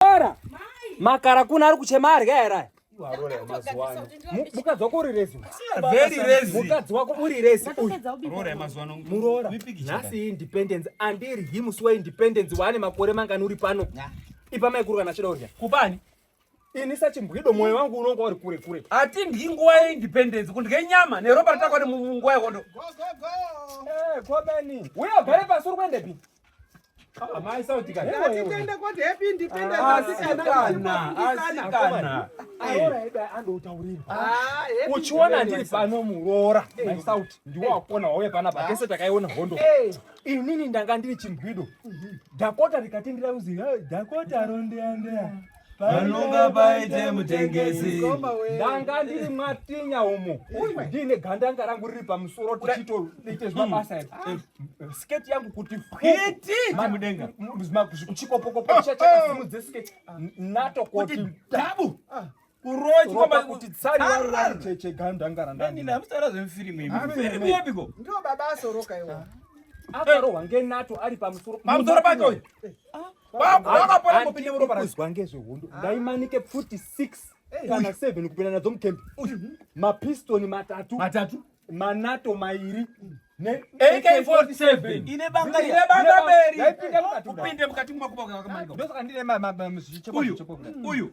Ora. Makara kuna ari kuchema arya here? Mukadzi wako uri rezi. Very rezi. Mukadzi wako uri rezi. Roora mazuva ano. Muroora. Nhasi independence andiri him musi we independence waane makore mangani uri pano. Ipa mai kuru kana chida urya. Kubani? Ini sachimbwido moyo wangu unonga uri kure kure. Ati ndi nguva ye independence kundye nyama neropa ritakwani munguva yekondo. Go go go. Eh, Kobani. Uya gare pasuri kuendepi? Amai sauti kati. Ndipende koti happy independence asikana. Asikana. Aora ebe ando utaurira. Ah, uchiona ndiri pano muroora. Mai sauti ndiwo wakona wauya pana pa kese takaiona hondo. Inini ndanga ndiri chimbwido. Dakota rikatindira uzi Dakota ronde ande. panonga paite mutengesi ndanga ndiri mwatinya umo ndiine gandanga rangu riri pamusoro tichitoite zvemabasa eh, eh, sketi yangu kuti mudenga chikopokopo chakasimudze sketi nato koti dabu ah. kurochwa kuti tsari varo vari cheche gandanga randandinamusara zvemufirimu imufirimu yepiko ndio baba asoroka iwo akarohwa ngenato ari pamusoro pamusoro pake uyu eh. ah. kuzwa ngezvehondo ah. ndaimanike pfuti 6 eh. kana 7 kupinda nadzo mutembi mapistoni matatu matatu manato mairi AK47 ndosaka ndine uyu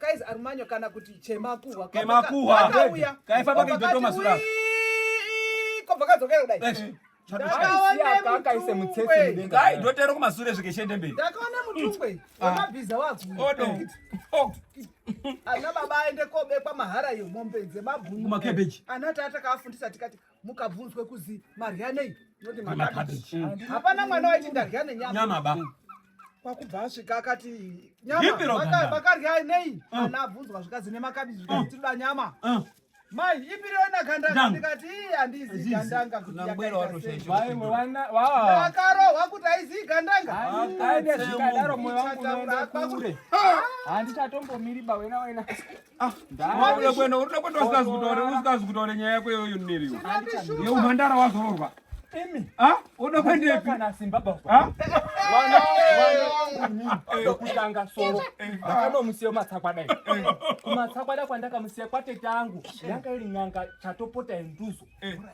Guys arumanyo kana kuti chemakuhwa. Chemakuhwa. Akauya. Kaifa pake joto masura. Kobva kadzokera kudai. Eh, akaise mutsetse mudenga dai dotero kumasure svike shende mberi ndakaona mutungwe ah. wemabhiza wakuodo oh. ana baba aende kobekwa mahara yemombe dzemabhunu makebeji ana tata kaafundisa tikati mukabvunzwa kuzi marya nei noti makabichi mm. hapana mwana waiti ndarya nenyama ba kwakubva asvika akati nyamavakarya nei mm. ana abvunzwa zvikazi nemakabichi zvikazi mm. tinoda nyama mai ipiri ona gandanga ndikati handizi gandanga kutiakarohwa kuti aizi gandangaaidaro moyo wangu unoenda kure handitatombomiri bawena wena Ah, wabuda kwenda uri kwenda usikazi kutaura usikazi kutaura nyaya yako iyoyo niri yo yo mhandara wazororwa imi ah uda kwenda ipi kana simba baba ah wana wana ndokutanga soro ndakanomusiya matsakwa dai kumatsakwa dai kwandakamusiya kwatete angu yanga iri n'anga chatopota yenduzo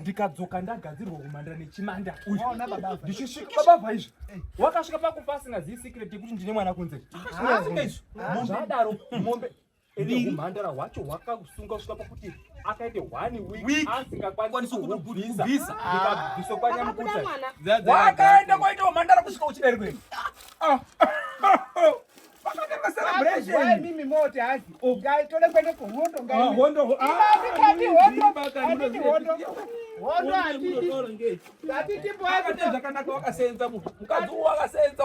ndikadzoka ndagadzirwa kumhandara nechimanda waona baba ndichisvika baba vaizvi wakasvika pakufa asingazivi secret yekuti ndine mwana kunze asingaizvi zvadaro mombe ende humhandara hwacho hwakasunga kusvika pakuti akaite one week asingakwanisi kubvisa ndikabviso kwanyamukuta wakaenda kwaita humhandara kusvika uchiberwa ah. mimi mote hazi ugai tode kwende kuhondo ngahondo hondo hatiti zvakanaka wakasenza mukadzi wakasenza